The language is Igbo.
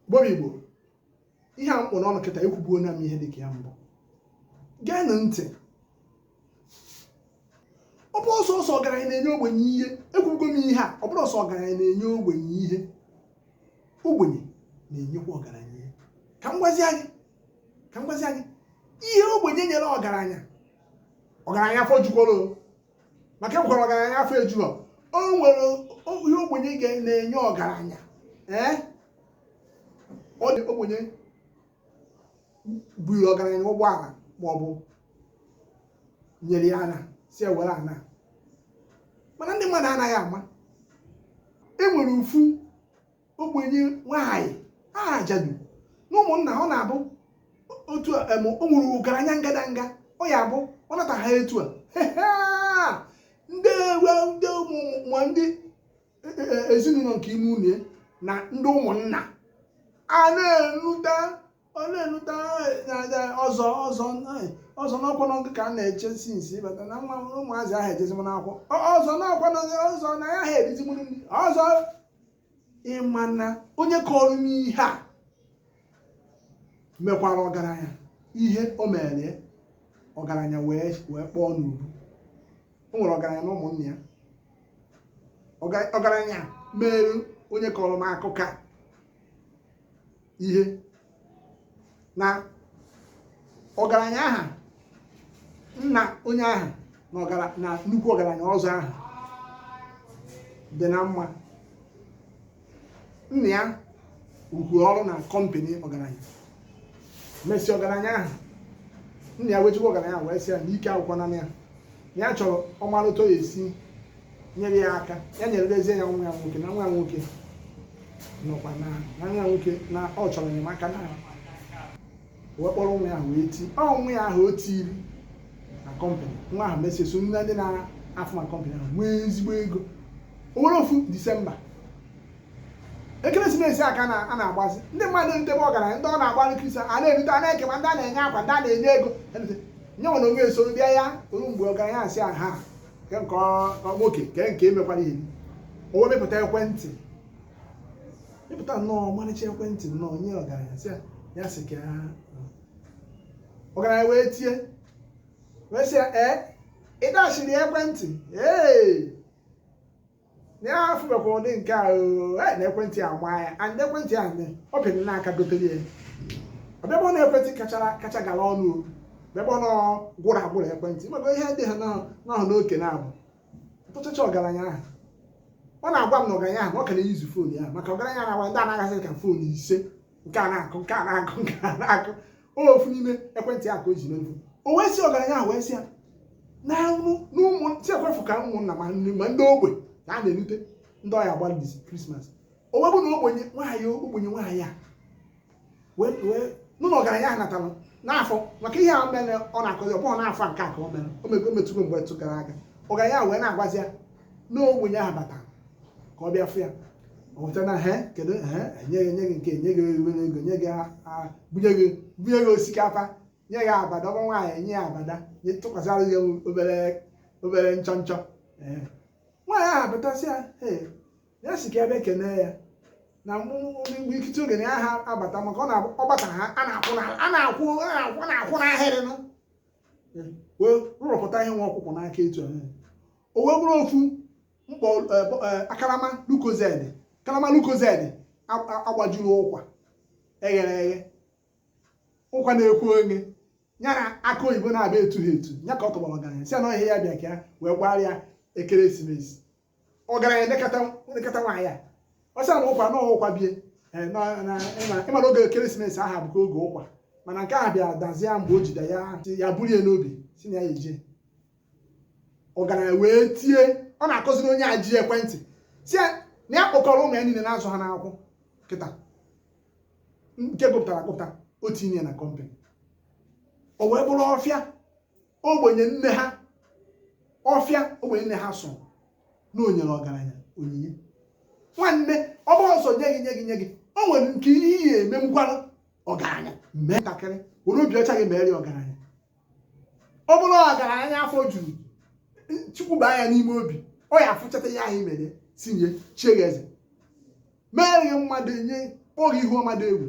gboro igbo ihe a m kpụ n'ọnụ kịta ekwubuona m ihe dịka ya mbụ geenụ ntị ọ bụrọ sọsọ ọgaranya na-enye ogbenye ihe ekwugo m ihe a ọ bụrọ sọ ọgaranya na-enye ogbenye ihe ogbenye na-enyekwa ọgaranya ihe ka m gwazia gị ka m gwazia gị ihe ogbenye nyere ọgaranya ọgaranya afọ jukworo maka e nwekwara ọgaranya afọ ejughọ o nwere o- ihe ogbenye ga na-enye ọgaranya ee ọ dị ogbenye buru ọgaranya ụgbọala ma ọ bụ nyere ya ana sị ya were ana mana ndị mmadụ anaghị ama e nwere ofu ogbenye nwaanyị ajadu na ụmụnna ọ na-abụ otu a em, o nwere ọgaranya ngadanga ọ ya abụ ọ nata ha etu a ndị ewe ndị ụmụ ma ndị e, e, e, ezinụlọ nke ime ụnọ na ndị ụmụnna a na-enụta ọ na-enụta ọzọ ọzọ ọzọ n'ọkwa n'ọgụ ka a na-eche since ịbata na nwa ụmụazị ahụ ejezi m n'akwụkwọ ọzọ n'ọkwa n'ọgụ ọzọ na ya ha erizi m nri ọzọ ị ma na onye kọrọ m ihe a mekwara ọgaranya ihe o mere ọgaranya wee wee kpọọ n'ubu o nwere ọgaranya na ụmụnne ya ọgaranya mere onye kọrọ m akụkọ a ihe na ọgaranya aha nna onye aha na nnukwu ọgaranya ọzọ aha dị na mma nna ya rụkwu ọrụ na kọmpani ọgaranya mesi ọgaranya ahụ nna ya wee jekwu ọgaranya wee sị ya na ike agwụkwananụ ya na ya chọrọ ọ mara otu ọ ya-esi nyere ya aka ya na-elezie ya nwa ya nwoke na nwa ya nwoke nọkwa na na nwa ya nwoke na ọ chọrọ enyemaka na wee kpọrọ nwa ya ahụ wee ti ọ nwa ya ahụ o tiri na kọmpanị nwa ahụ mesie so na ndị na-arụ na kọmpanị ahụ nwee ezigbo ego o nwere ofu disemba ekeresimesi ka a na- a na-agbazi ndị mmadụ na be ọgaranya ndị ọ na-agbara krismas a na-erite a na-eke ma ndị a na-enye akwa ndị a na-enye ego erite. nye nwere o wee soro bịa ya eruo mgbe ọgaranya asị a ha ke nke nwoke ke nke e mekwara ihe o wee mepụta ekwentị mepụta nnọọ ọmarịcha ekwentị nnọọ nye ọgaranya sị ya ya sị ka ya ọgaranya wee tie wee sị ya ee ị dachiri ekwentị ee na ya afụbekwa ụdị nke a oo, e, na ekwentị a gbaa ya and ekwentị a nne ọ bịara n'aka gotere ya ọ bịa bụ na ekwentị kachara kacha gara ọnụ ọ bịakwa na gwụrụ agwụrụ ekwentị maka ihe dị ha n'ahụ n'ahụ n'oke na-abụ tụchacha ọgaranya ahụ ọ na-agwa m na ọgaranya ahụ na ọ ka na-use phone ya maka ọgaranya na-agwa ndị anaghazị ka phone ise nke a na-akụ nke a na-akụ nke a na-akụ ofu n'ime ekwentị ahụ ka o ji n'elu o wee sị ọgaranya ahụ wee sị ya na anwụ n'ụmụ si ekwefu ka ụmụnna ma nri ma ndị ogbe ka a na-erute ndị ọya agba this Christmas o wee bụ na ogbenye nwaanyị ogbenye nwaanyị a wee wee nụ na ọgaranya ahụ natara n'afọ maka ihe ahụ mere ọ na-akọzi ọ bụghị n'afọ a nke a ka o mere o mego metụgo mgbe tụ gara aga ọgaranya ahụ wee na-agwazi ya na ogbenye ahụ batara ka ọ bịa fụ ya ọ weta na he kedu he e nye gị e nye gị nke e nye gị ego ego nye gị a- a- bunye gị bunye gị osikapa nye gị abada ọ bụ nwaanyị e nye ya abada nye tụkwasịra gị obere obere nchọ nchọ Ee. nwaanyị ahụ abatasị ya ee ya sị ka ya bịa kene ya na mgbe ikite oge na ya ha abata maka ọ na-abụ- ọ bata ha a na-akwụ n'ala a na-akwụ a na-akwụ a na-akwụ n'ahịrị nụ wee rụrụpụta ihe nwa ọ kpụ kpụ n'aka etu ahụ o wee bụrụ ofu mkpọ akarama Lucozade karama Lucozade a gbajuru ụkwa e ghere eghe ụkwa na akụ o nye ya na akụ oyibo naabọ etu ha etu ya ka ọ tọgbọrọ ọgaranya sị na ihe ya bịa ka ya wee gbara ya ekeresimesi ọgaranya elekata elekata nwaanyị a ọ sị na ụkwa na ụkwa bie Eh, na- na- ịma- ịmara oge ekeresimesi aha abụkwa oge ụkwa mana nke a bịara dazie ya mgbe o jide ya sị ya bulie n'obi sị na ya eje ọgaranya wee tie ọ na-akọziri onye a ji ekwentị sị ya na ya kpọkọrọ ụmụ ya niile na-azụ ha n'akwụkwọ kịta nke gụpụtara agụpụta o tinye ya na company o wee bụrụ ọfịa ogbenye nne ha ọfịa ogbenye nne ha sọ na o nyere ọgaranya onyinye nwanne ọ bụrọ sọ nye gị nye gị nye gị o nwere nke ihe ị ga-eme mekwara ọgaranya mee ntakịrị were obi ọcha gị mere ya ọgaranya ọ bụrụ ọgaranya afọ juru Chukwu baa ya n'ime obi ọ ya-afụchata ihe ahụ i mere si nye chie gị eze mere gị mmadụ e nyekwuo gị ihu ọma dị egwu